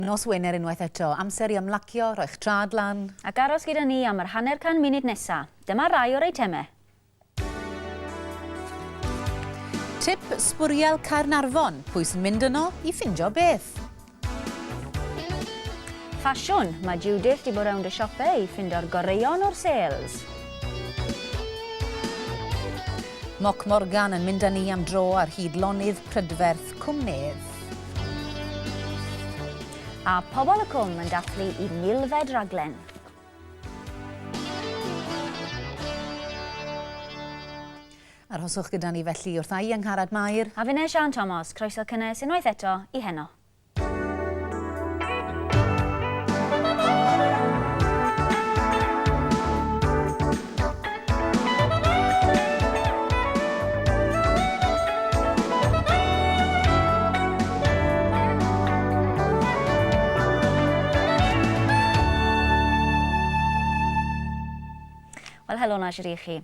Nos Wener unwaith eto, amser i ymlacio, rhoi'ch traed lan. Ac aros gyda ni am yr hanner can munud nesa. Dyma rai o'r eitemau. Tip sbwriel Caernarfon, pwy sy'n mynd yno i ffindio beth? Ffasiwn, mae Judith di bod rownd y siope i ffindo'r goreuon o'r sales. Moc Morgan yn mynd â ni am dro ar hyd lonydd prydferth. Cwm Medd. A Pobol y Cwm yn dathlu i milfed raglen. Arhoswch gyda ni felly wrth ai Angharad Mair. A finne Siân Tomos, croeso cynnes unwaith eto i Heno. Wel, helo na i chi.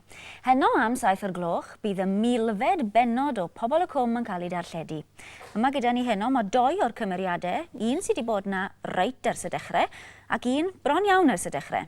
Heno am saith o'r gloch, bydd y milfed benod o Pobl y Cwm yn cael ei darlledu. Yma gyda ni heno mae doi o'r cymeriadau, un sydd wedi bod na reit ers y dechrau, ac un bron iawn ers y dechrau.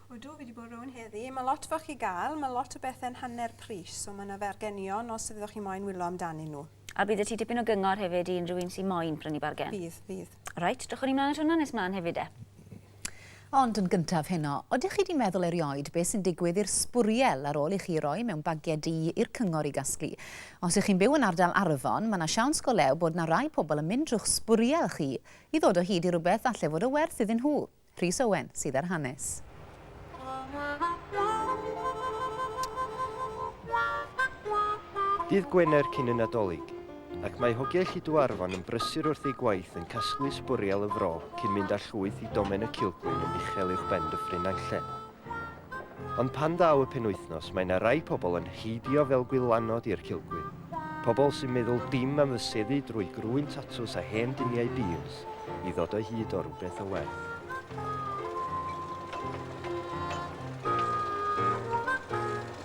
Ydw, fi 'di bod rownd heddi. Mae lot foch i gael, mae lot o bethe'n hanner pris, so mae yna fargenion os fyddoch chi moyn wyllo amdanyn nhw. A bydd 'da ti dipyn o gyngor hefyd i unrhyw un sy moyn prynu bargen? Bydd, bydd. Reit, drychwn ni mlaen at hwnna nes mlaen hefyd 'de. Ond yn gyntaf heno, odych chi 'di meddwl erioed be sy'n digwydd i'r sbwriel ar ôl i chi roi mewn bagiau du i'r cyngor i gasglu? Os ych chi'n byw yn ardal Arfon, mae 'na siawns go lew bod 'na rai pobl yn mynd drw'ch sbwriel chi i ddod o hyd i rywbeth falle fod o werth iddyn nhw. Rhys Owen sydd â'r hanes. Dydd Gwener cyn y Nadolig, ac mae hogiau Lliduarfon yn brysur wrth eu gwaith yn casglu sbwriel y fro cyn mynd â llwyth i Domen y Cilgwyn yn uchel uwchben Dyffryn Nantlle. Ond pan ddaw y penwythnos mae 'na rai pobl yn heidio fel gwylanod i'r cilgwyn, pobl sy'n meddwl dim am fyseddu drwy grwyn tatws a hen duniau bîls i ddod o hyd o rywbeth o werth.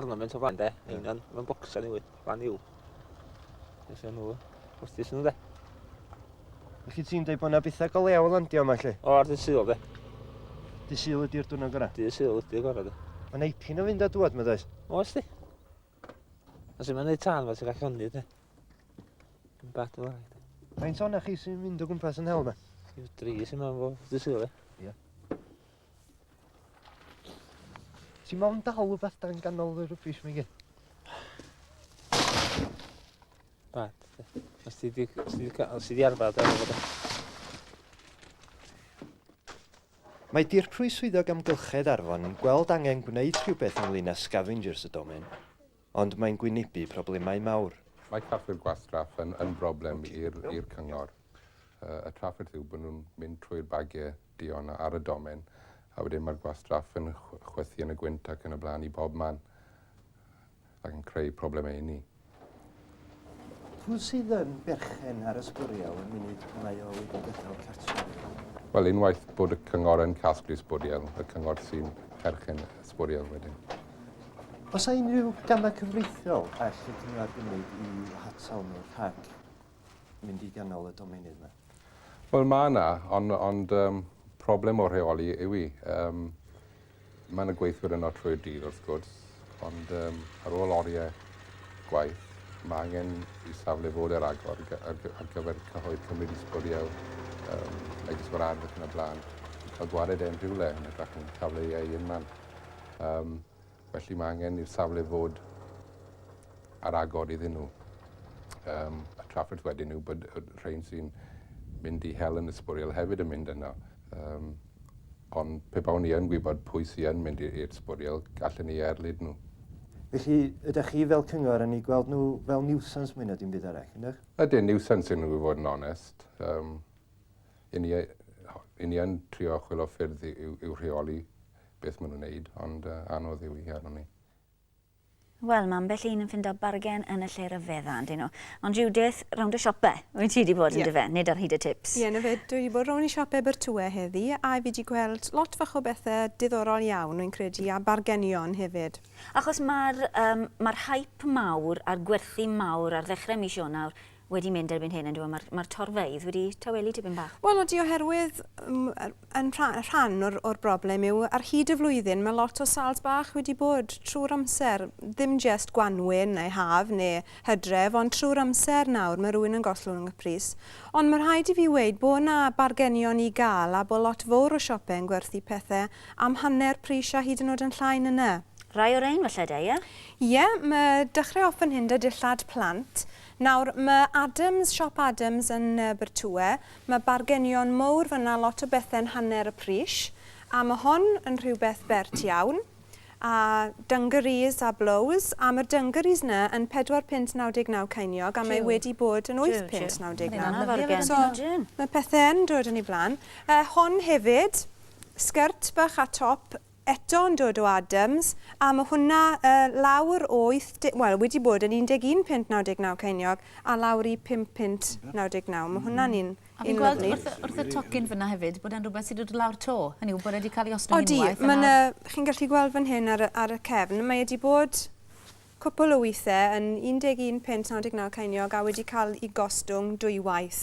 ornament o fan de, yeah. union, mae'n bocsau newydd, fan yw. Nes o'n nhw, postus nhw de. Felly ti'n dweud bod yna bethau go lew o landio yma lle? O, ar dy syl de. Dy syl ydy'r dwrnod gorau? Dy syl ydy'r gorau de. Mae'n eipin o fynd a dwad, mae'n dweud? O, ysdi. A sy'n mynd i tan fe, ti'n gallu honni de. Yn bat o lai de. Mae'n sôn chi sy'n mynd o gwmpas yn hel yma? Yw dri sy'n mynd o dy syl de. Ie. Ti mo'n dal rhywbeth dan ganol y rubbish mae gyd? Ba, os ti di, os ti di, os ti di arfer, da fod Mae Dirprwy Swyddog Amgylchedd Arfon yn gweld angen gwneud rhywbeth ynglyn â scavengers y domen. Ond mae'n gwynebu problemau mawr. Mae trafferth gwastraff yn yn broblem i'r i'r cyngor. Yy y trafferth yw bod nhw'n mynd trwy'r bagiau duon ar y domen a wedyn mae'r gwastraff yn chw- chwythu yn y gwynt ac yn y blaen i bob man ac yn creu problemau inni. Pwy sydd yn berchen ar y sbwriel y munud y mae o wedi gadael cartref? Wel, unwaith bod y cyngor yn casglu sbwriel, y cyngor sy'n perchen y sbwriel wedyn. Os a unrhyw gamau cyfreithiol all y cyngor gymryd i hatal nhw rhag mynd i ganol y domenydd yma? Wel, mae yna, ond, ond um, problem o rheoli yw i. Um, Mae yna gweithwyr yno trwy'r dydd wrth gwrs, ond um, ar ôl oriau gwaith, mae angen i safle fod ar agor ar gyfer cyhoedd cymryd isbwriel, um, megis o'r ardd ac yn y blaen. Cael gwared e'n rhywle yn y drach yn safle ei ei unman. Um, felly mae angen i'r safle fod ar agor iddyn nhw. Um, y trafferth wedyn yw bod rhain sy'n mynd i hel yn ysbwriel hefyd yn mynd yno. Um, Ond pe bawn i yn gwybod pwy sy yn mynd i'r sbwriel, gallen ni erlid nhw. Felly, ydych chi fel cyngor yn eu gweld nhw fel nuisance mwy na dim byd arall, ydych? Ydyn, nuisance ydyn nhw i fod yn onest. Um, yn ni, yn ni yn trio chwilio ffyrdd i'w rheoli beth maen nhw'n wneud, ond uh, anodd yw i arno ni. Wel, ma' ambell un yn ffindo bargen yn y lle ryfedda, yndyn nhw. Ond Judith, rownd y siope wyt ti 'di bod yndyfe, nid ar hyd y tips. Ie, 'na fe, dwi 'di bod rownd i siope Abertwwe heddi, a fi 'di gweld lot fach o bethe diddorol iawn, rwy'n credu, a bargenion hefyd. Achos ma'r yym ma'r hype mawr a'r gwerthu mawr ar ddechre mis Ionawr wedi mynd erbyn hyn yndyw e? Mae'r ma torfeydd wedi tawelu tipyn bach. Wel, ydy oherwydd yn rhan o'r, or broblem yw ar hyd y flwyddyn mae lot o salt bach wedi bod trwy'r amser. Ddim jest gwanwyn neu haf neu hydref, ond trwy'r amser nawr mae rhywun yn gollwng yng Nghypris. Ond mae rhaid i fi weud bod yna bargenion i gael a bod lot fawr o siopau yn gwerthu pethau am hanner pris a hyd yn oed yn llai na 'na. Rai o rein falle de, ie? Ie, mae dechrau off fan hyn 'da dillad plant. Nawr, ma Adams, Siop Adams yn Abertue, ma bargenion mowr fanna, lot o bethe'n hanner y pris, a ma hon yn rhywbeth bert iawn, a dungarees a blows, a ma'r dungarees na yn pedwar punt naw deg naw ceiniog a mae wedi bod yn wyth punt naw deg naw. So, ma pethe yn dod yn ei flan. Yy, hon hefyd, sgert bach a top Eto yn dod o Adams, a ma hwnna yy lawr o wyth de-, wel wedi bod yn 11 punt 99 ceiniog a lawr i pump punt 99. Ma hwnna'n un, A fi'n un gweld lyfli. wrth y, wrth y tocyn fynna hefyd bod e'n rhywbeth sydd wedi dod lawr to, hynny yw bod e wedi cael ei ostwng Odi, unwaith a ma nawr... 'na, chi'n gallu gweld fan hyn ar y, ar y cefn, mae e 'di bod Cwpl o weithiau yn 11 punt 99 ceiniog a wedi cael eu gostwng dwywaith.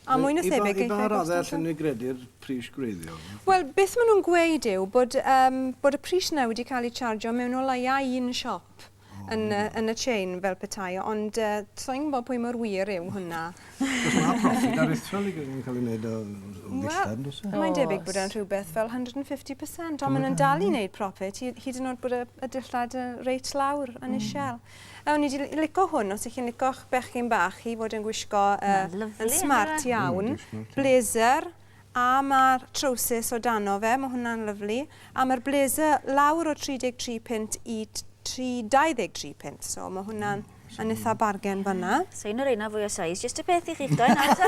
A mwy na thebyg geiff eu gostwng... I ba raddau allen ni gredu'r pris gwreiddiol? Wel, beth maen nhw'n gweud yw bod yym bod y pris yna wedi cael ei charjio mewn o leia un siop yn y yn y chain fel petai, ond yy sa i'n gwybod pwy mor wir yw hwnna. Achos mae profit aruthrol i gyd yn cael ei wneud o ddillad, yn does e? Mae'n debyg bod e'n rhywbeth fel 150%, ond maen nhw'n dal i wneud profit, hyd yn oed bod y, y dillad yn reit lawr yn mm. isel. A o'n i wedi lico hwn, os ych chi'n lico'ch bechgyn bach i fod yn gwisgo uh, yn smart iawn, blazer, a mae'r trowsus o dano fe, mae hwnna'n lyflu, a mae'r blazer lawr o 33 pint i 323 pint, so mae hwnna'n mm Mae'n eitha bargen fanna. So un o'r reina fwy o size. Just y peth i chi'ch doen ato.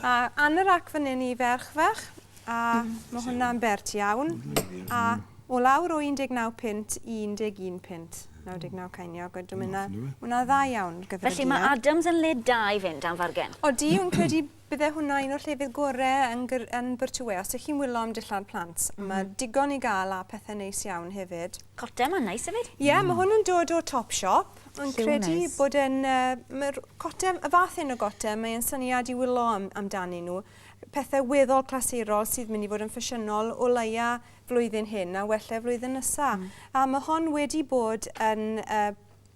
a anorak fan hyn i ferch fach. A mae hwnna'n bert iawn. A o lawr o 19 pint i 11 pint. 99 ceiniog. Dwi'n mynd na, hwnna dda iawn gyfer y diau. Felly mae Adams yn le da i fynd am fargen. O, di, yn credu Bydde hwnna un o'r llefydd gore yn gr- yn Byrtywê. Os dych chi'n wyllo am dillad plant, ma' digon i gael a pethe neis iawn hefyd. Cota 'ma'n neis hefyd. Ie, ma' hwn yn dod o Topshop. O'n credu bod e'n yy ma'r cota, y fath hyn o gota, mae e'n syniad i wyllo am amdanyn nhw. Pethe weddol clasurol sydd mynd i fod yn ffasiynol o leia flwyddyn hyn a wella flwyddyn nesa. A ma' hon wedi bod yn yy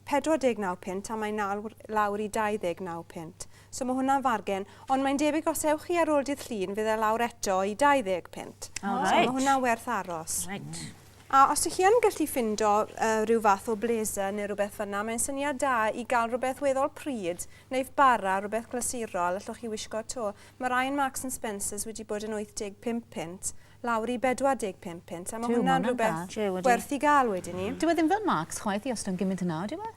49 punt a mae nawr lawr i 29 punt. So mae hwnna'n fargen, ond mae'n debyg os ewch chi ar ôl dydd Llun fydd e lawr eto i 20 punt. Oh, right. So mae hwnna'n werth aros. Right. A os ydych chi yn gallu ffindo uh, rhyw fath o blazer neu rhywbeth fyna, mae'n syniad da i gael rhywbeth weddol pryd, neu bara, rhywbeth glasurol, allwch chi wisgo to. Mae rhai yn Marks and Spencers wedi bod yn 85 punt, lawr i 45 punt a ma' hwnna'n rhywbeth werth i gael wedyn 'ny. Dyw e ddim fel Marks chwaith i ostwng gymint yna, odyw e?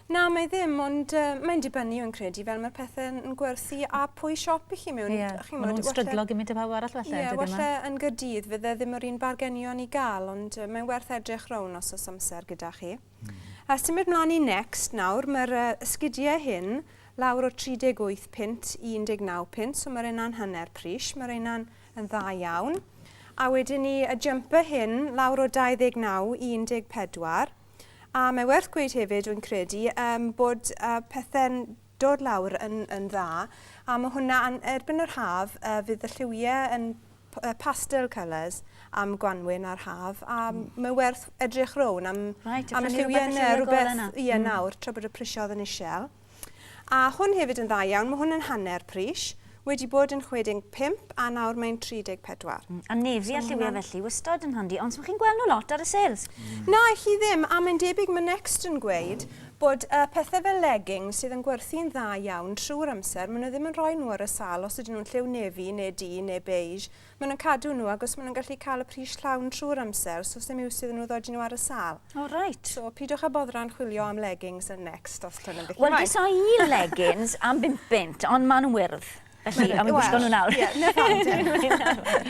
Na, mae ddim, ond yy mae'n dibynnu fi'n credu fel mae'r pethe yn yn gwerthu a pwy siop i chi mewn Ie, chi'n ma' nhw'n stryglo gymint â phawb arall falle dydyn nhw? Ie, walle yn Gaerdydd fydd e ddim yr un bargenion i gael ond yy mae'n werth edrych rown os o's amser gyda chi. Hmm. A symud mlan i Next nawr ma'r yy ysgudie hyn lawr o 38 punt i 19 punt so ma' reina'n hanner pris ma' reina'n Yn dda iawn. A wedyn ni y jumper hyn lawr o 29 i 14. A mae werth gweud hefyd, dwi'n credu, um, bod uh, pethau'n dod lawr yn, yn dda. A mae hwnna, an, erbyn yr haf, uh, fydd y lliwiau yn pastel colours am gwanwyn a'r haf a mm. mae werth edrych rown am, right, am y lliwiau yna rhywbeth ie mm. nawr tra bod y prisiodd yn eisiau. A hwn hefyd yn dda iawn, mae hwn yn hanner pris, wedi bod yn 65 a nawr mae'n 34. Mm, a nefi a lliwiau felly, wystod yn handi, ond swn chi'n gweld nhw lot ar y sales. Mm. Na, chi ddim, a mae'n debyg mae Next yn gweud bod uh, pethau fel leggings sydd yn gwerthu'n dda iawn trwy'r amser, maen nhw ddim yn rhoi nhw ar y sal os ydyn nhw'n lliw nefi neu du neu beige, Maen nhw'n cadw nhw agos maen nhw'n gallu cael y pris llawn trwy'r amser, so sdim iws iddyn nhw ddod i nhw ar y sâl. O, oh, reit. So, pidwch â boddran chwilio am leggings yn next, os dyn nhw'n beth Wel, gesa i leggings am bum bunt, ond maen nhw'n wyrdd. Felly, am i gwisgo nhw nawr. Ie, na pam.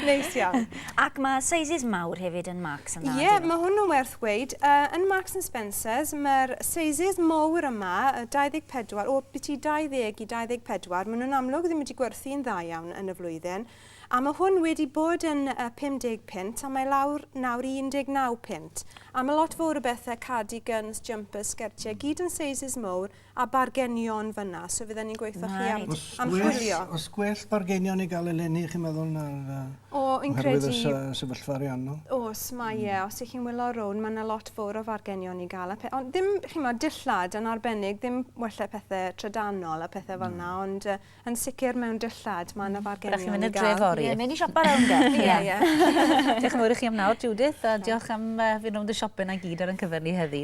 Neis iawn. Ac mae sizes mawr hefyd yn Marks and Ie, mae hwnnw'n werth weid. Uh, yn Marks and Spencers, mae'r sizes mawr yma, 24, o byti 20 i 24, maen nhw'n amlwg ddim wedi gwerthu'n dda iawn yn y flwyddyn. A mae hwn wedi bod yn 50 punt a mae lawr nawr i 19 punt. A mae lot fowr o bethe, cardi gyns, jumpers, sgertiau, gyd yn sizes mowr a bargenion fyna, so fydden ni'n gweutho chi am am chwilio. Os gwell bargenion i gael eleni chi'n meddwl na'r yy oherwydd y sefyllfa ariannol? Os mae e, os ych chi'n wylio rownd mae yna lot fowr o fargenion i gael a pe- ond ddim chi'n meddwl dillad yn arbennig ddim wella pethe trydanol a pethe fel yna ond yy Yn sicr mewn dillad, mae 'na fargenion i gael. Rydych chi'n mynd i'r dre fory? Ie, mynd i siopa rownd e. Ie, ie. Diolch yn fawr i chi am nawr, Judith, a diolch am fynd rownd y siope 'na i gyd ar ein cyfer ni heddi.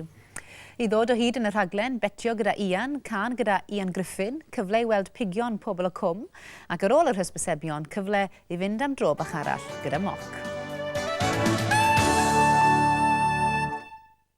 I ddod o hyd yn y rhaglen Betio gyda Ian, cân gyda Ian Griffin, cyfle i weld pigion Pobl y Cwm, ac ar ôl yr hysbysebion, cyfle i fynd am dro bach arall gyda moc.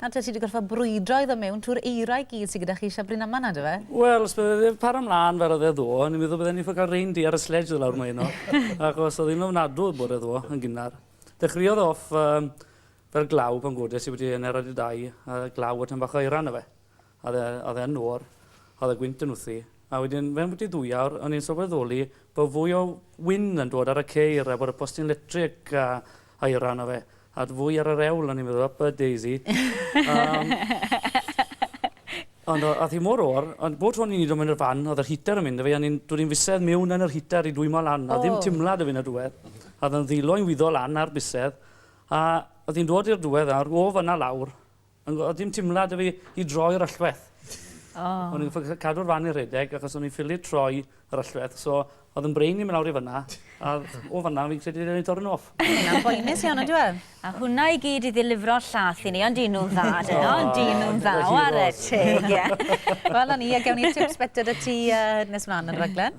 Nawr te, ti 'di gorffod brwydro i ddod mewn trwy'r eira i gyd sy gyda chi Siafbri Naman na, dyfe? Wel, os bydde ddim para mlan fel oedd e ddo, o'n i'n meddwl bydden ni'n ffael cael reindeer ar y sledge ddo lawr mlaen o, achos oedd hi'n ofnadw y bore ddo, yn gynnar. Dechreuodd off fel glaw pan godes i bod i hanner awr wedi dau, a glaw a tym bach o eira arno fe. Oedd e, oedd e'n oer, oedd y gwynt yn wthu, a wedyn mewn byti ddwy awr o'n i'n sylweddoli bod fwy o win yn dod ar y ceir a bod y postyn letrig a aera arno fe, a fwy ar yr ewl o'n i'n meddwl, ypa daisy. um, ond oedd hi mor oer, ond bod o'n i'n i'n mynd i'r fan, oedd yr heater yn mynd y fe, o'n i'n dod i'n fusedd mewn yn yr heater i dwymo lan, a ddim timlad y fe yn y diwedd. Oedd yn ddilo i'n wyddo lan ar busedd, a oedd hi'n dod i'r diwedd nawr, o fyna lawr, Ond oedd dim timlad 'da fi i droi'r allwedd. O'n i'n ffycin cadw'r fan yn rhedeg achos o'n i'n ffili troi yr allwedd so oedd yn brain i myn' lawr i fynna a o fynna fi'n credu newn ni torri'n off. Ma' hwnna'n boenus iawn on'd yw e? A hwnna i gyd i ddilifro llath i ni ond 'di nw'n dda do? Ydi nw'n dda ware teg ie. Wel 'na ni a gewn ni'r tips bita 'da ti yy nes mlan yn y raglen.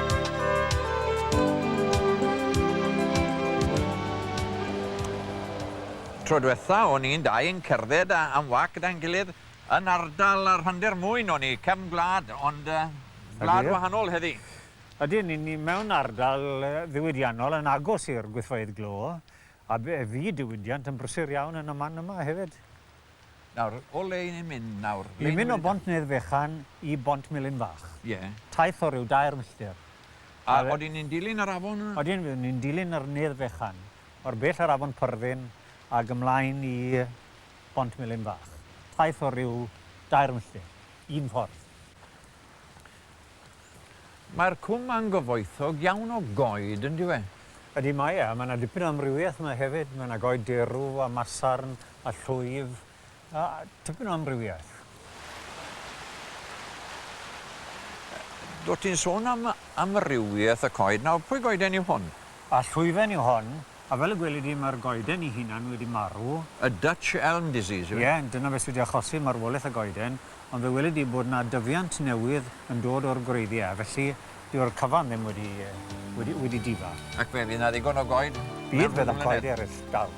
Tro dwetha o'n i'n dau yn cerdded am wak gyda'n gilydd yn ardal y rhandir mwyn o'n i cefn gwlad ond wlad wahanol heddi. Ydyn, ni ni mewn ardal ddiwydiannol yn agos i'r gwyddfeydd glo a fe fydd diwydiant yn brysur iawn yn y man yma hefyd. Nawr, o le 'yn ni'n mynd nawr? Ni'n mynd o Bont Nedd Fechan i Bont Melin Fach. Ie. Taith o ryw dair milltir. A odyn ni'n dilyn yr afon yna? Odyn, fyddwn ni'n dilyn yr Nedd Fechan, o'r bell ar afon Pyrddin ag ymlaen i Bont Melin Fach. Taith o ryw dair milltir, un ffordd. Mae'r cwm ma'n gyfoethog iawn o goed, yn dyw e? Ydy, mae e, a mae 'na dipyn o amrywiaeth yma hefyd, mae 'na goed derw a masarn a llwyf, a tipyn o amrywiaeth. Dw ti'n sôn am amrywiaeth y coed, nawr pwy goeden yw hwn? A llwyfen yw hon, A fel y gweli di, mae'r goeden ei hunan wedi marw. Y Dutch Elm Disease yw e? Ie, dyna beth sydd wedi achosi marwolaeth y goeden, ond fe weli di bod 'na dyfiant newydd yn dod o'r gwreiddiau, felly dyw'r cyfan ddim wedi, wedi, wedi difa. Ac fe fydd 'na ddigon o goed mewn rhyw flynedd? Bydd, bydd 'na goed eraill, dal.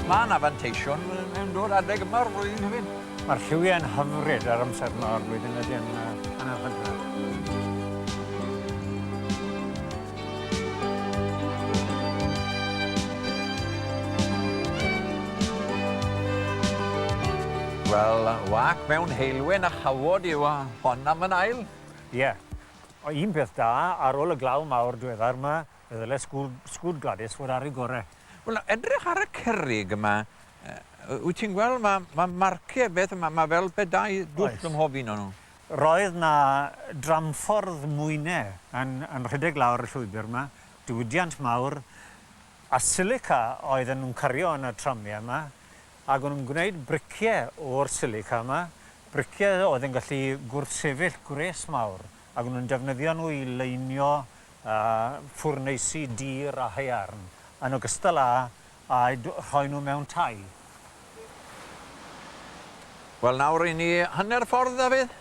Mae 'na fanteision yn dod adeg yma o'r flwyddyn hefyd. Mae'r lliwiau yn hyfryd ar amser yma o'r flwyddyn ydy yn anarchydra. Wel, wâc mewn heulwen a chawod yw hon am yn ail. Ie. Un peth da, ar ôl y glaw mawr dwedda'r 'ma, Fe ddyle school, school Gwladys fod ar ei gore. Wel, edrych ar y cerrig yma, uh, wyt ti'n gweld, mae ma marciau beth yma, mae fel pe dau dwll ym mhob un o'n nhw. Roedd na dramffordd mwynau yn, yn rhedeg lawr y llwybr yma, diwydiant mawr, a silica oedd yn cario yn y tramiau yma, ac o'n nhw'n gwneud briciau o'r silica yma, briciau oedd yn gallu gwrthsefyll gwres mawr Ac nhw'n defnyddio nhw i leinio ffwrneisi dur a haearn, yn ogystal â a'u rhoi nhw mewn tai. Wel nawr ry'n ni hanner ffordd Dafydd?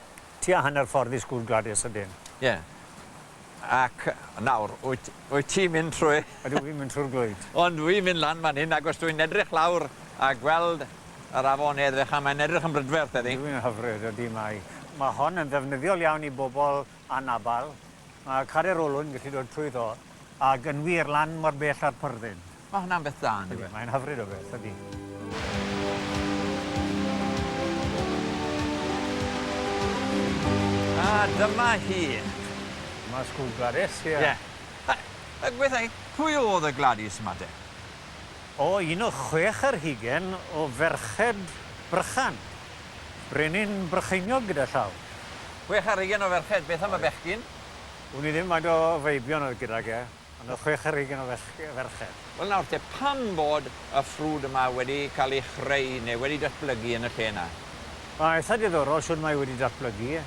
Tua hanner ffordd i Sgwr Gwladys ydyn. Ie. Ac nawr, wyt wyt ti'n mynd trwy... Ydw, fi'n mynd trwy'r glwyd. Ond dwi'n mynd lan fan hyn ac os dwi'n edrych lawr a gweld Yr afon edrych a mae'n edrych yn brydferth heddi. Yw yn hyfryd, ydi mae. Mae hon yn ddefnyddiol iawn i bobl anabl. Mae carreg olwyn yn gallu dod trwyddo ac yn wir lan mor bell â'r pyrddin. Mae hwnna'n beth da yndyw e? Mae'n hyfryd o beth, ydi. A dyma hi. Dyma Sgwd Gwladys, ie. Ie. Gwethai, pwy oedd y Gwladys yma te? O un o chwech ar hugain o ferched Brychan. Brenin Brycheiniog gyda llaw. Chwech ar hugain o ferched, beth am y bechgyn? Wn i ddim faint o feibion oedd gydag e, ond o chwech ar hugain o ferched. Wel nawr te, pam bod y ffrwd yma wedi cael ei chreu neu wedi datblygu yn y lle yna? Mae'n eitha diddorol shwd mae wedi datblygu.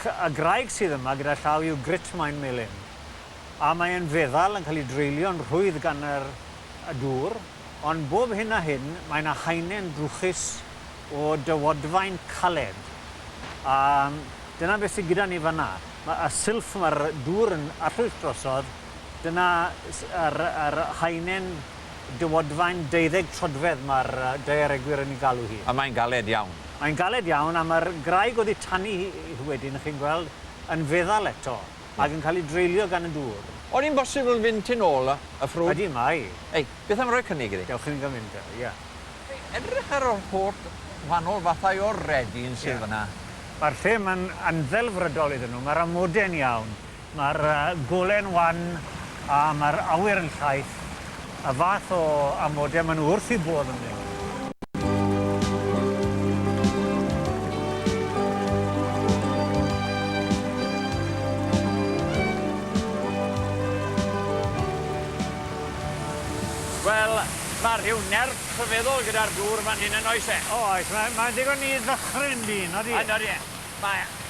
Y graig sydd yma gyda llaw yw grit maen melyn. a mae e'n feddal yn cael ei dreulio'n rhwydd gan yr y dŵr, ond bob hyn a hyn mae 'na haenen drwchus o dywodfaen caled, a dyna beth sy gyda ni fan 'na. Ma' y silff ma'r dŵr yn arllwys drosodd, dyna s- yr yr haenen dywodfaen deuddeg trodfedd ma'r yy daearegwyr yn ei galw hi. A mae'n galed iawn. Mae'n galed iawn, a ma'r graig oddi tani hi wedyn, chi'n gweld, yn feddal eto. ac yn cael ei dreulio gan y dŵr. O'n i'n bosibl fynd tu nôl y ffrwd? Ydy, mae. Ei, beth am roi cynnig iddi? Dewch i ni gael mynd, ia. Edrych ar yr holl wahanol fathau o redin sydd fan'na. Mae'r lle yma'n anddelfrydol iddyn nhw. Mae'r amode'n iawn, mae'r gole'n wan a mae'r awyr yn llaith. Y fath o amodau maen nhw wrth eu bodd yn mynd. Wel, mae rhyw nerth rhyfeddol gyda'r dŵr fan hyn yn oes e? O oes, mae mae'n ddigon i ddychryn dyn, odi? Yn odi e. Mae e.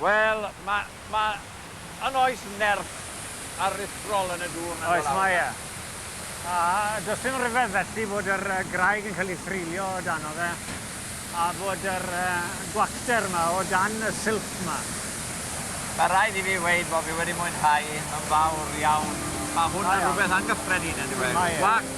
Wel, ma', ma', yn oes nerth aruthrol yn y dŵr na Oes, mae e. A does dim rhyfedd felly fod yr yy graig yn cael ei threulio o dano fe, a fod yr yy gwacter 'ma o dan y silff 'ma. Ma' raid i fi weud bo' fi wedi mwynhau yn fawr iawn. Ma' hwn yn rwbeth angyffredin yndyw e? Mae e. Gwac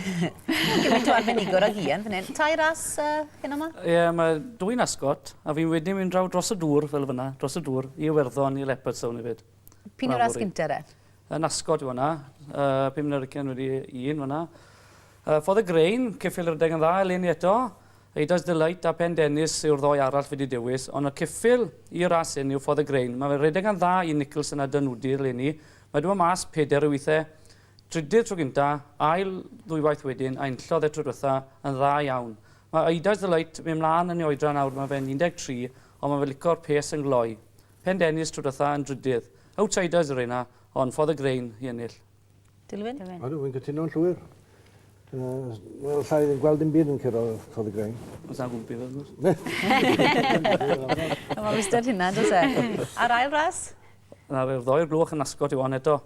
Gymaint o arbenigwr ag Ian fan hyn. Tair ras uh, hyn yma? Ie, yeah, mae dwy'n asgot, a fi'n wedyn mynd draw dros y dŵr fel fyna, dros y dŵr, i Iwerddon, i Leopardstown hefyd. Pyn yw'r ras gynta de? Yn asgot yw hwnna, uh, pum nyrgen wedi un fyna. Uh, Ffordd y Grein, cyffil rydeg yn dda eleni eto. Eidas Delight a Pen Dennis yw'r ddoi arall fi wedi dewis, ond y cyffil i ras hyn yw Ffordd y Grein. Mae fe rhedeg yn dda i Nicholson a Dynwdi eleni. Mae dweud mas peder o weithiau Trydydd tro gynta, ail ddwywaith wedyn, a enllodd e tro dwetha yn dda iawn. Mae Eida's Delight myn mlan yn ei oedran nawr mae fe'n 13 ond mae fe lico'r pês yn gloi. Pen Dennis tro dwetha yn drydydd. Outsiders yr rheina ond ffodd y Grain i ennill. Dilwyn? Ydw, fi'n cytuno'n llwyr. Wel, allai ddim gweld dim byd yn curo Ffodd y Grain. Os na gwmpi fe, wrth gwrs. Mae'n wastad hynna, does e? A'r ail ras? Na, fe wrddoi i'r gloch yn ascot i wan eto.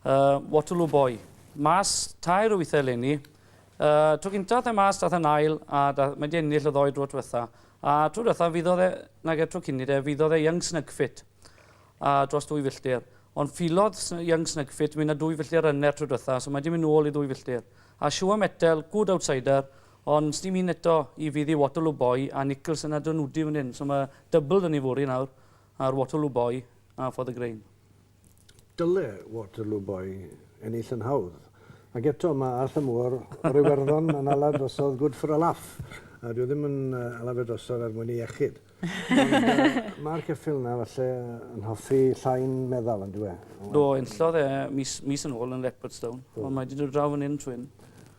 Y Waterloo Boy. Mas tair wyth eleni. Y tro gynta ath e mas dath e'n ail a da, mae di ennill y ddoe dro dwetha. A tro dwetha fyddodd e, nage tro cynni de, fyddodd e Young Snugfit a dros dwy filltir. Ond ffilodd Young Snugfit myn a dwy filltir ryner tro dwetha so mae di myn nôl i ddwy filltir. A Sure Metal, good outsider, ond sdim un eto i fydd i Waterloo Boy a Nicholson a Dynudi fan hyn. So mae double da ni fory nawr ar Waterloo Boy a For the Grain. Dyle Waterloo Boy ennill yn hawdd. Ac eto, mae Arthur Moore o'r Iwerddon yn ala drosodd good for a laugh. A dyw e ddim yn ala fe drosodd er mwyn ei iechyd. Ond mae'r ceffyl yna falle yn hoffi llai'n meddal, yn dyw e? Do, enllodd e mis yn ôl yn Leopardstown. Ond mae 'di dod draw fan hyn trwy hyn.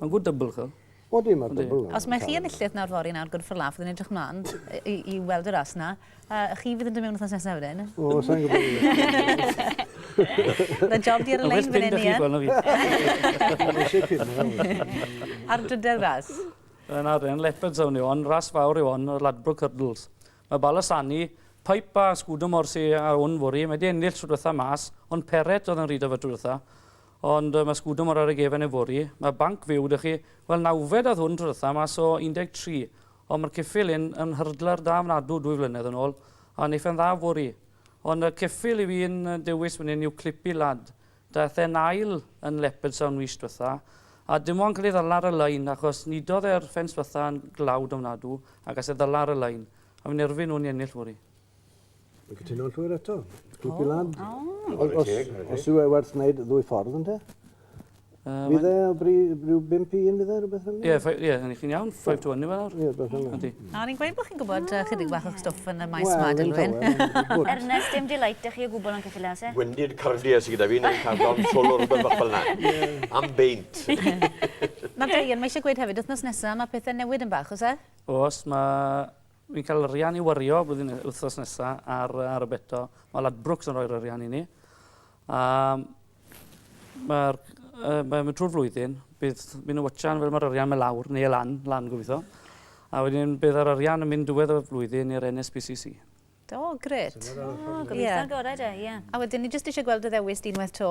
Mae'n good double chi. Odi, mae double yna. Os mae chi enillydd nawr fory nawr, good for laugh, fyddwn edrych mlaen i, i weld y ras yna. A chi fydd yn dod mewn wythnos nesaf wedyn? O, sa'n gwybod. Mae job di ar y lein fan hyn, Ian. Mae'n gwybod chi, gweld fi. Ar drydedd ras? Yn ar yn leopards awn ni o'n ras fawr i o'n o'r Ladbrook Hurdles. Mae Balasani, Pipe a Sgwdwm o'r si a o'n fwri, mae di ennill trwy dwetha mas, ond Peret oedd yn rhyd o fe trwy dwetha. Ond mae sgwdwm ar ar y gefen yfory. Mae banc fyw 'da chi. Wel, nawfed oedd hwn tro dwytha, mas o 13. Ond mae'r ceffyl hyn yn hurdler da ofnadw dwy flynedd yn ôl, a neith e'n dda fory. Ond y ceffyl i fi'n dewis fan hyn yw Clippy Lad. Daeth e'n ail yn Leopardstown mis dwytha, a dim ond cael ei ddala ar y lein, achos nidodd e'r ffens dwytha yn glawd ofnadw, a gas e ddala ar y lein. A fi'n erfyn nhw'n i ennill fory. Dwi'n cytuno'n llwyr eto. Grwpi oh. lan. Oh. Os, os, os yw e werth wneud ddwy ffordd yn te? Uh, fydd e o bri, rhyw 5 i 1 fydd e, rhywbeth fel Ie, ie, hynny chi'n iawn, 5 to 1 i fe nawr. Ie, beth fel yna. A ni'n gweud bod chi'n gwybod uh, chydig bach o'ch stwff yn y maes well, ma, Dilwyn. Ernest, dim delight ych chi o gwbl yn cyffilio, se? Gwendid cardiau sydd gyda fi, neu'n cadron solo rhywbeth bach fel yna. Am beint. Mae Diane, mae eisiau gweud hefyd, wythnos nesaf, mae pethau newid yn bach, os e? Os, mae Ni'n cael arian i wario blwyddyn wythnos nesa ar yy ar y bet o. Ma' Ladbrokes yn rhoi'r arian i ni. A ma'r yy mae mynd trwy'r flwyddyn bydd myn' yn watchan fel ma'r arian my' lawr ne' lan, lan gobitho. A wedyn bydd yr arian yn mynd diwedd y flwyddyn i'r NSPCC. O grêt. O gobeithio'r gorau de, ie. A wedyn ni jyst isie gweld dy ddewis di unwaith 'to.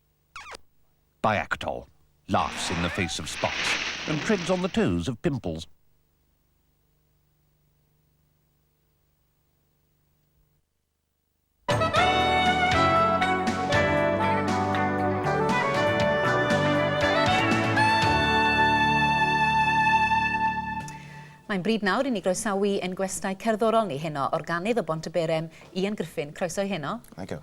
Biactol, laughs in the face of spots and treads on the toes of pimples. Mae'n bryd nawr i ni groesawu ein gwestai cerddorol ni heno, organydd o Bont y Berem, Ian Griffin. Croeso i heno. Thank you.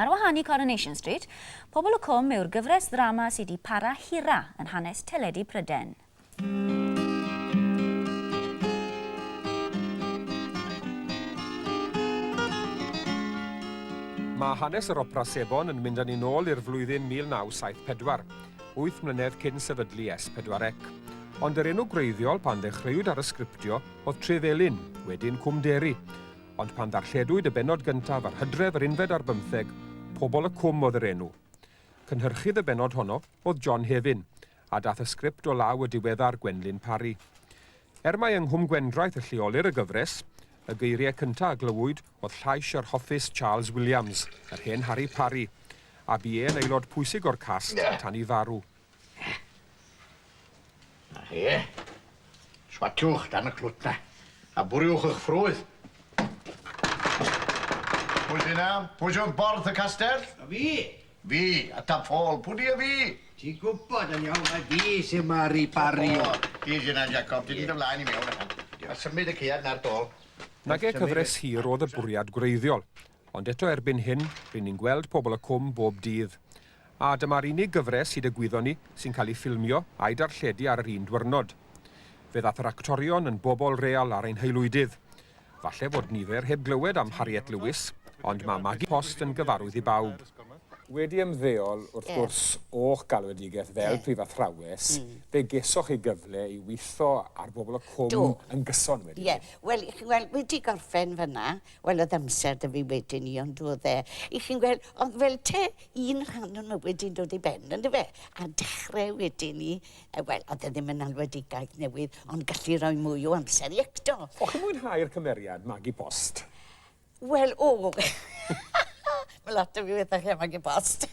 Ar wahân i Coronation Street, Pobol y Cwm yw'r gyfres ddrama sy' 'di para hira yn hanes teledu Pryden. Mae hanes yr Opera Sebon yn mynd â ni'n ôl i'r flwyddyn 1974, wyth mlynedd cyn sefydlu S4C. Ond yr enw gwreiddiol pan ddechreuwyd ar y sgriptio oedd Tref Elin, wedyn Cwm Deri. Ond pan ddarlledwyd y bennod gyntaf ar Hydref yr unfed ar bymtheg, Pobol y Cwm oedd yr enw. Cynhyrchydd y bennod honno oedd John Hefin, a dath y sgript o law y diweddar Gwenlyn Parry. Er mai yng Nghwm Gwendraeth y lleolir y gyfres, y geiriau cyntaf a glywyd oedd llais yr hoffus Charles Williams, yr hen Harri Parri, a bu e'n aelod pwysig o'r cast tan i farw. Na chi. Swatiwch dan y clwt na, a bwriwch eich ffrwydd. Pwy sy'n na? Pwy sy'n wrth borth y castell? A fi. Fi, a ta ffôl, pwdi a fi. Ti'n gwybod yn iawn mai fi sy'n maru Barry. O, ti sy'n na, Jacob. Ti'n mynd y flaen i mewn, a symud y caead na'r dôl. Nage cyfres hir oedd y bwriad gwreiddiol. Ond eto erbyn hyn, rŷn ni'n gweld Pobol y Cwm bob dydd. A dyma'r unig gyfres hyd y gwyddon ni sy'n cael ei ffilmio a'i darlledu ar yr un dwyrnod. Fe ddath yr actorion yn bobol real ar ein haelwydydd. Falle fod nifer heb glywed am Harriet Lewis, ond mae Maggie Post yn gyfarwydd i bawb. Wedi ymddeol, wrth gwrs, o'ch galwedigaeth fel Prif Athrawes, fe gesoch chi gyfle i weithio ar Bobol y Cwm yn gyson wedyn. Ie, wel, chi'n gweld, wedi gorffen fan'na, Wel o'dd amser 'da fi wedyn 'ny on'd o'dd e? 'Ych chi'n gweld? Ond fel 'te un rhan o mywyd 'di dod i ben on'd yfe? A dechre wedyn 'ny yy wel o'dd e ddim yn alwedigaeth newydd ond gallu roi mwy o amser i acto. O'ch chi'n mwynhau'r cymeriad magu post? Wel o! Ma' lot o fi wethach chi am magu post.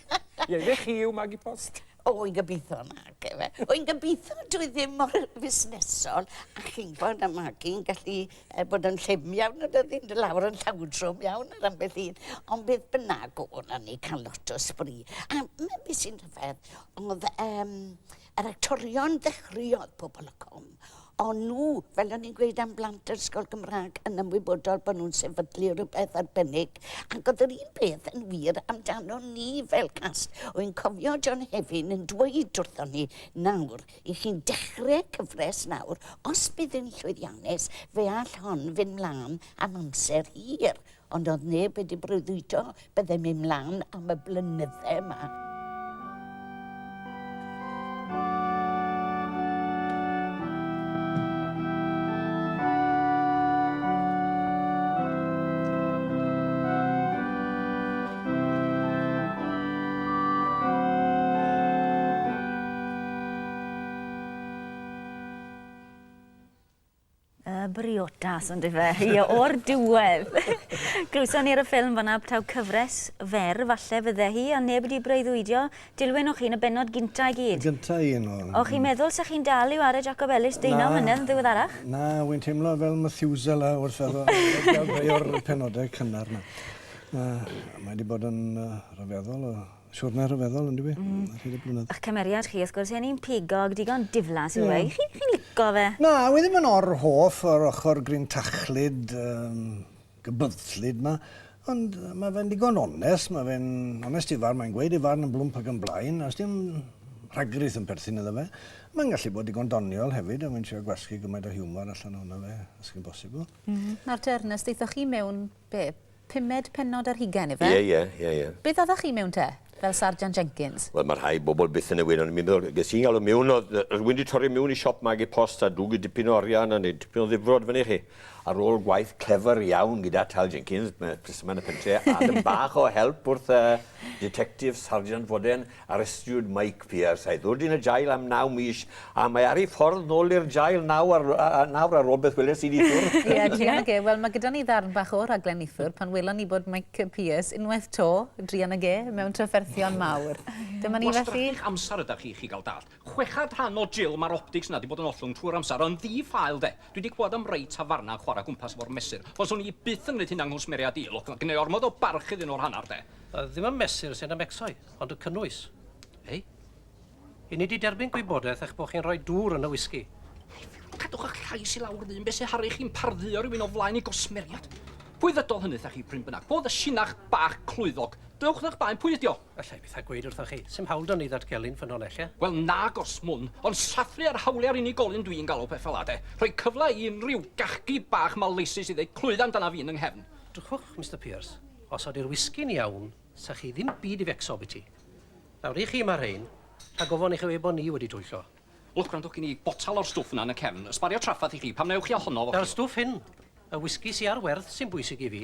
Ie ife chi yw magu post? O, wy'n gobeithio nag efe. Wy'n gobeithio dwi ddim mor fusnesol, a chi'n gwybod, a Magi'n gallu e, bod yn llym iawn, a dyddi'n dy lawr yn llawdrwm iawn ar ambell un. Ond beth bynnag o hwnna ni cael lot o sbri. A mae beth sy'n rhyfedd, oedd um, yr actorion ddechreuodd pobl y com, Ond nhw, fel o'n i'n gweud am blant yr ysgol Gymraeg, yn ymwybodol bod nhw'n sefydlu rhywbeth arbennig, ac oedd yr un peth yn wir amdano ni fel cast. Wy'n cofio John Hefin yn dweud wrthon ni, nawr, i chi'n dechre cyfres nawr, os bydd yn llwyddiannus, fe all hon fynd mlan am amser hir. Ond oedd neb wedi breuddwydio byddem i mlaen am y blynyddau yma. Y briodas on'd yfe? Ie, o'r diwedd! Glywson ni ar y ffilm fan'na taw cyfres fer falle fydde hi, ond neb wedi breuddwydio. Dilwyn o'ch chi'n y bennod gynta' i gyd. Y gynta' un o nhw. O'ch chi'n meddwl 'sech chi'n dal i ware Jacob Ellis deunaw mlynedd yn ddiweddarach? Na, wi'n teimlo fel Methuselah wrth feddwl am rei o'r penodau cynnar 'na. Mae 'di bod yn rhyfeddol o Siwrna rhyfeddol, yn dyfu? Mm. Rhaid y blynedd. Ych cymeriad chi, wrth gwrs, un pigog, digon diflas yw yeah. e. Chi'n chi lico fe? Na, wy ddim yn or hoff o'r ochr gryn tachlyd, um, gybyddllyd ma. Ond mae fe'n digon onest, mae fe'n onest i farn, mae'n gweud i farn yn blwmp ac yn blaen, a os dim rhagrith yn perthyn iddo fe, mae'n gallu bod digon doniol hefyd, a mae'n siarad gwasgu gymaint o hiwmor allan o'na fe, os chi'n bosibl. Mm -hmm. Nawr te, Ernest, eithoch chi mewn be, Pumed pennod ar hugain, ife? Ie, ie, ie, ie. Beth oddach chi mewn te? Fel Sarjant Jenkins? Wel, mae rhai bobl byth yn y wir, ond mi'n meddwl, ges i'n galw miwn, oedd rhywun wedi torri miwn i siop magu post a dwgu dipyn o arian a neud dipyn o ddifrod fyny i chi. Ar ôl gwaith clefyr iawn gyda Tal Jenkins, Prysymau yn y Pentre, a dipyn bach o help wrth y Ditectif Sarjant Foden, Arestiwyd Mike Pearce a'i ddod yn y jail am naw mis a mae ar ei ffordd nôl i'r jail nawr a rhywbeth weles i neithiwr. Ie, druan ag e. Wel, mae gyda ni ddarn bach o raglen neithiwr pan welon ni bod Mike Pearce unwaith 'to, druan ag e, mewn trafferthion mawr. Dyma ni felly. Gwastraffu'ch amser ydach chi, chi gael dallt. Chweched rhan o Jill, mae'r optics 'na 'di bod yn ollwng trwy'r amser, yn ddi-ffael 'de. Dwi 'di clywed am rai tafarna yn chwarae gwmpas efo'r mesur, ond 'swn i byth yn gwneud hynna yng nghwsmeriaid i, lwc, gynna i ormod o barch iddyn nhw o'r hanner 'de. Ddim y mesur sy'n ymecso'i. Ond y cynnwys? Ei? I ni di derbyn gwybodaeth eich bod chi'n rhoi dŵr yn y whisky. Cadwch eich llais i lawr ddyn, beth sy'n haru chi'n pardduo rhywun o flaen i gosmeriad? Pwy ddydodd hynny thach chi, pryn bynnag? Fo ddy sinach bach clwyddog. Dewch ddech baen, pwy ydio? Alla i byth a gweud wrthoch chi. Sim hawl da ni ddatgelu'n ffynonellau. Wel nag os mwn, ond sathru ar hawliau'r unigolyn dwi'n galw peth fel ade. Rhoi cyfle i unrhyw gachgi bach maleisus i ddeud clwydda amdana fi yn yng nghefn. Dwchwch, Mister Pierce. Os ydy'r whisky'n iawn, 'Sa chi ddim byd i fecso biti. Nawr i chi ma rhein, rhag ofon i chi weud bo ni wedi twyllo. Look gwrando gin i botal o'r stwff na yn y cefn, ysbario traffath i chi, pam na ewch chi a honno efo chi. Na'r stwff hyn, y whisky sy ar werth sy'n bwysig i fi.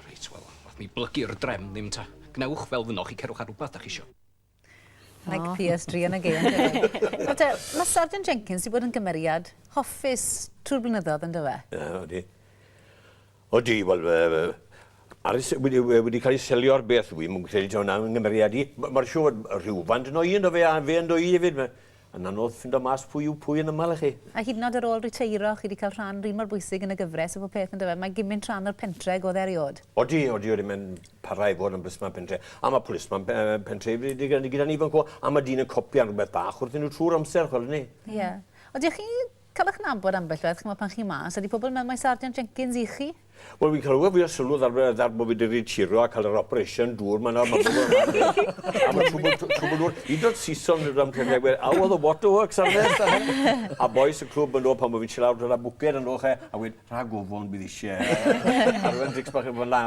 Reit wel, nath mi blygu'r drefn ddim ta. Gwnewch fel fynnoch chi cerwch ar rwbath da chi isio. Like PS3 yn y gêm. Ond te, mae Sergeant Jenkins wedi bod yn gymeriad hoffus trwy'r blynyddoedd yn dyfa? Ie, odi. Odi, wel, wedi cael ei selio ar beth, dwi'n mwyn credu tawn am nghymeriad i. Mae'r siw rhywfaint yn o'i ynddo fe, a fe ynddo i hefyd. Yn anodd ffindo mas pwy yw pwy yn yma le chi. A hyd yn oed ar ôl riteiro, chi 'di cael rhan run mor bwysig yn y gyfres a phob peth yndyfe? Mae gymint rhan o'r pentre ag oedd eriod. Odi, odi, odi, mae'n para i fod yn blismon pentre. A mae plismon pentre gyda ni fan 'co, a mae dyn yn copïan rhywbeth bach wrthyn nhw trwy'r amser, chwel' 'ny. Ie. Odi, a chi Cael eich nabod ambell waith, ch'mod, pan chi mas. Ydy pobl yn meddwl mai Sarjant Jenkins y'ch chi? Wel, fi'n clywed fwy o sylw ddar, ddar bod fi wedi ritiro a cael yr operation dŵr ma nawr, ma pobl yn meddwl am hynny. Am y twbl, twbl dŵr. Hyd yn oed Saeson yn rhan trefniau gwedd, aw, oedd y waterworks ar nes, a hyn. A bois y clwb yn ôl pan bod fi'n siarad lawr gyda bwced yn ôl, che, a gweud, rhag ofon, bydd eisiau. Arwen drinks bach yn fanna.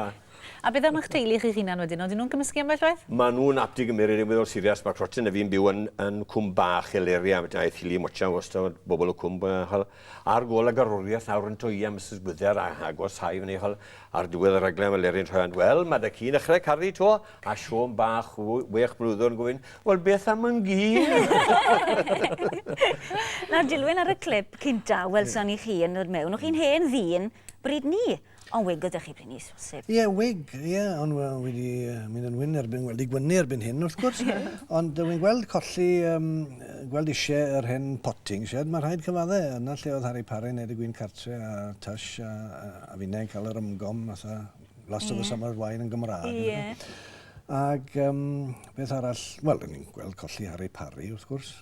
A beth am eich teulu chi'ch hunan wedyn, odyn nhw'n cymysgu ambell waith? Maen nhw'n apti i gymmeryd e'n weddol sirias, mae Crotten a fi'n byw yn yn cwm bach Heleria, felly aeth Hilly Mocha wastad bobl y cwm a ch'wel ar gôl y garwriaeth nawr yn dwy a Misus Gwyder a agos hau fyny ch'wel ar diwedd y rhaglen fel Leryn Rhand wel ma' da ci'n ddechre caru to a Siôn bach wech blwyddyn yn gofyn wel beth am yn gi? Nawr dilyn ar y clip cynta welson ni chi yn dod mewn, o'ch chi'n hen ddyn bryd ni? Ond wig gyda chi, Brynys, bosib? Ie, wig, ie, ond wel, wedi mynd yn wyn erbyn, wel, digwynnu erbyn hyn, wrth gwrs. Ond dwi'n gweld colli, um, gweld eisiau yr hen potting shed, mae rhaid cyfadde, yna lle oedd Harry Parry wneud y gwyn cartre a Tush a, a, a finnau'n cael yr ymgom, fatha Last yeah. of the Summer's Wine yn Gymraeg. Ie. Yeah. Ac um, beth arall, wel, ni'n gweld colli Harry Parry, wrth gwrs.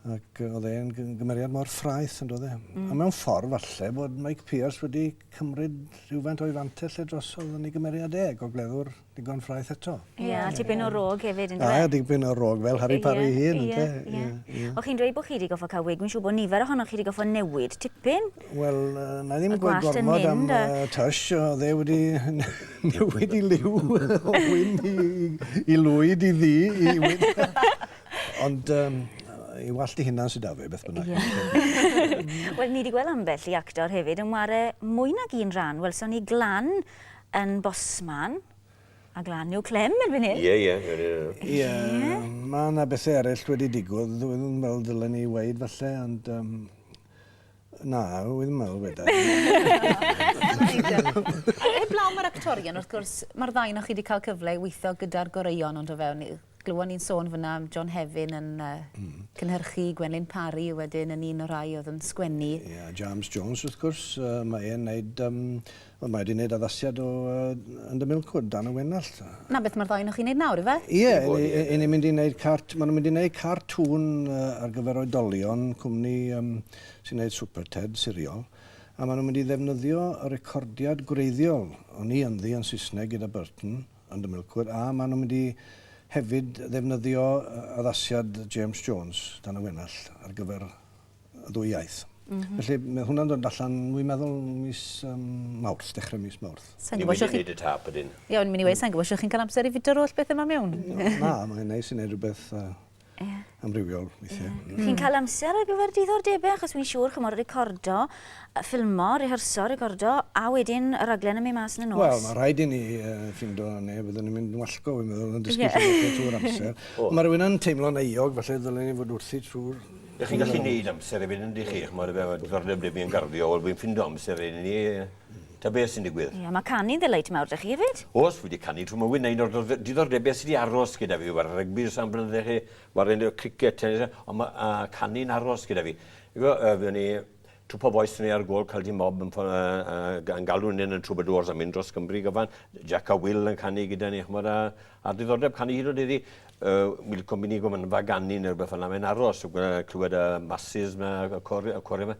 Ac oedd e'n gymeriad mor ffraeth, yn dod e. Mm. A mewn ffordd, falle, bod Mike Pierce wedi cymryd rhywfaint o'i fantell lle drosodd yn ei gymeriad e, gogleddwr digon ffraeth eto. Ie, yeah, tipyn o rog hefyd, yn dweud. Ie, yeah, tipyn o rog, fel Harry Parry yeah, hyn, yn yeah, yeah. yeah. O chi'n dweud bod chi wedi goffa cael wig, mi'n siŵr bod nifer ohonoch chi wedi goffa newid tipyn. Wel, uh, na ddim yn gweud gormod am uh, Tush, o dde wedi newid i liw o wyn i, i lwyd i ddi, i wyn. Ond um, i wallt i hunan sydd da fe, beth bynnag. Yeah. Wel, ni wedi gweld ambell i actor hefyd yn ware mwy nag un rhan. Wel, so ni glan yn bosman, a glan yw clem yn fan hyn. Ie, ie. Ie, mae yna bethau eraill wedi digwydd. Dwi ddim yn meddwl dylen ni weid falle, ond... Um, na, dwi ddim yn meddwl wedi. Heblaw mae'r actorion, wrth gwrs, mae'r ddain o'ch chi wedi cael cyfle i weithio gyda'r goreuon ond o fewn Glywon ni'n sôn fan'na am John Hefin yn cynhyrchu i Gwenlyn Parry wedyn yn un o'r rhai oedd yn sgwennu. Ie, a James Jones wrth gwrs, mae e'n neud yym wel mae e 'di neud addasiad o Under Milkwood, Dan y Wenallt. 'Na beth ma'r ddou onoch chi'n neud nawr yfe? Ie, 'yn ni'n mynd i neud cart- ma' nhw'n mynd i neud cartŵn ar gyfer oedolion, cwmni yym sy'n neud Super Ted siriol, a ma' nhw'n mynd i ddefnyddio y recordiad gwreiddiol o'n i ynddi yn Saesneg gyda Burton, yn y milkweed a maen nhw'n mynd i hefyd ddefnyddio addasiad James Jones dan y wenallt ar gyfer y ddwy iaith. Mm -hmm. Felly mae hwnna'n dod allan, dwi'n meddwl, mis um, Mawrth, dechrau mis Mawrth. Sa'n gwybod chi... Ni'n y tap ydyn. Ie, ond mi'n i wedi, sa'n gwybod chi'n cael amser i fyd yr holl beth yma mewn. Na, mae'n neis i wneud rhywbeth uh, Yeah. Amrywiol, weithiau. Yeah. Mm. Chi'n cael amser ar gyfer diddordebau, achos wy'n siŵr, chymod, recordo, ffilmo, reherso, recordo, a wedyn y raglen yn mynd mas yn y nos. Wel, mae rhaid i ni uh, ffindo ne, byddwn ni'n mynd yn wallgo, fi'n meddwl, yn dysgu yeah. ffilmo trwy'r amser. oh. Mae rhywun yn teimlo'n eiog, falle ddylen ni fod wrthi trwy'r Ydych chi'n gallu gwneud amser i fynd yn dych chi? Mae'r ddiddordeb dwi yn garddio, wel fi'n ffindo amser i ni. Ta beth sy'n digwydd? Ie, mae canu'n ddelight mawr 'da chi hefyd. Oes, fi 'di canu trwy mywyd, na un o'r diddordebau sy 'di aros gyda fi yw chwarae rygbi dros am blynydde chi, chwarae cricet, tenis, ond ma' canu'n aros gyda fi. Chi'n gwybod, yy, fuon ni, Twpa Bois o'n ni ar gôl Cyldyn Mob yn yn galw hynny yn Troubadours a mynd dros Gymru gyfan, Jac a Wil yn canu gyda ni, ch'mod, a a'r diddordeb canu hyd yn o'd heddi, yy, mi licwn myn' i gofyn am Faganu ne' rwbeth fel 'na, mae'n aros, clywed y masys 'ma, y cori- y corie 'ma.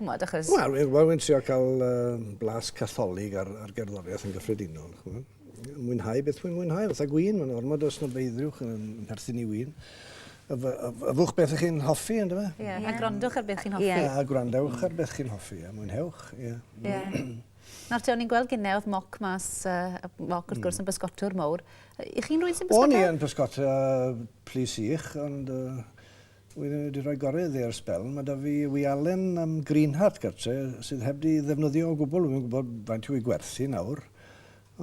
ch'mod, achos... Wel, wi- wel wi'n trio cael uh, blas catholig ar, ar gerddoriaeth yn gyffredinol. Ch'mod? Mwynhau beth wi'n mwynhau, fatha gwyn, mae'n ormod o snobeiddrywch yn perthyn i wyn. Yfwch beth ych chi'n hoffi, ynddo fe? Ie, yeah. a gwrandwch ar beth chi'n hoffi. Yeah. A gwrandewch ar beth chi'n hoffi, a mwynhewch. Ie. Yeah. Yeah. Nawr ti, o'n i'n gweld gynnau oedd moc mas, uh, moc wrth hmm. gwrs yn bysgotwr mowr. I chi'n rwy'n sy'n bysgotwr? O'n i yn bysgotwr uh, plis i'ch, ond uh, Wi di rhoi gore iddi ar sbel. Mae da fi wialen am Greenheart gartre sydd heb di ddefnyddio o gwbl. Wi'm yn gwybod faint yw ei gwerth hi nawr.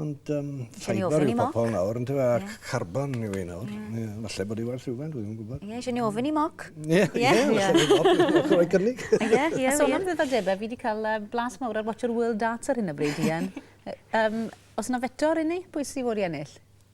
Ond um, ffaibr yw pobl nawr, ynddo fe, ac carbon yw ei nawr. Mm. Yeah, falle bod ei werth rhywfaint, wi'm yn gwybod. Ie, yeah, eisiau ni ofyn i moc. Ie, ie. Rhoi cynnig. Ie, ie. So, am ddiddordebau, fi wedi cael blas mawr ar Watch Your World Data ar hyn o bryd, Ian. um, os yna fetor i ni, pwy sydd wedi ennill?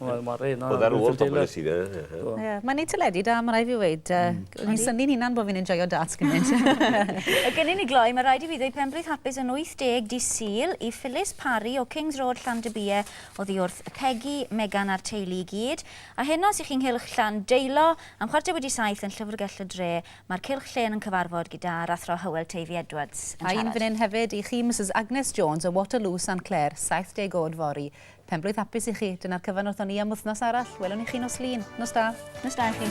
Wel ma'r un yy... O'dd e ar ôl pobol nes i fe. Do. Ie. Mae'n neud teledu da ma' rai' fi weud yy o'n i'n synnu'n hunan bo' fi'n enjoio darts gymint. A cyn i ni gloi ma' raid i fi ddeud penblwydd hapus yn 80 dydd Sul i Phyllis Parry o Kings Road Llandybie oddi wrth Pegi, Megan a'r teulu i gyd. A heno os 'ych chi'n nghylch Llan Deilo am chwarter wedi saith yn Llyfrgell y Dre ma'r cylch llên yn cyfarfod gyda'r Athro Hywel Teifi Edwards yn siarad. A un fyn 'yn hefyd i chi Misus Agnes Jones o Waterloo Saint Clair 70 o'd fory Penblwydd hapus i chi. Dyna'r cyfan wrthon ni am wythnos arall. Welwn i chi nos Lun. Nos da. Nos da i chi.